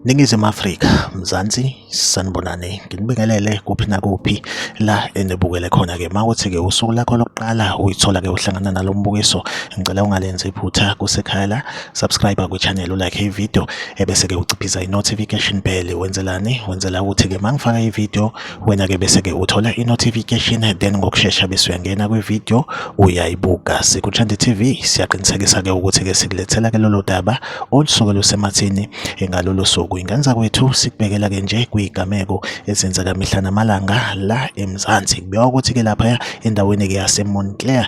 Ningizimu Afrika, Mzansi, sanibonani. Nginibingelele kuphi nakuphi la enibukele khona ke. Mawuthi ke usuku lakho lokuqala uyithola ke uhlangana nalombukiso. Ngicela ungalenzi iphutha kusekhaya la. Subscribe ku channel ulike i video ebese ke uciphiza i notification bell. Wenzelani? Wenzela ukuthi ke mangifaka i video wena ke bese ke uthola i-notification then ngokushesha bese uyangena kwi-video uyayibuka sikuthanda TV siyaqinisekisa ke ukuthi ke sikulethela ke lolo daba olusuke lusemathini ngalolo suku ingenza kwethu sikubekela ke nje kuyigameko ezenzeka mihla namalanga la eMzansi kubiwa ukuthi ke lapha endaweni ke yaseMontclair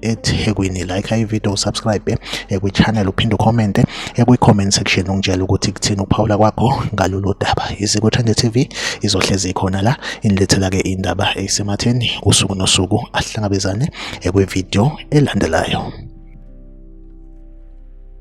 ethekwini like ivideo usubscribe ekwichannel uphinde ukhomente ekwi-comment section ungitshela ukuthi kuthini ukuphawula kwakho ngalolu daba iziko thande tv izohlezi ikhona la inilethela-ke indaba eyisematheni usuku nosuku ahlangabezane ekwivideo elandelayo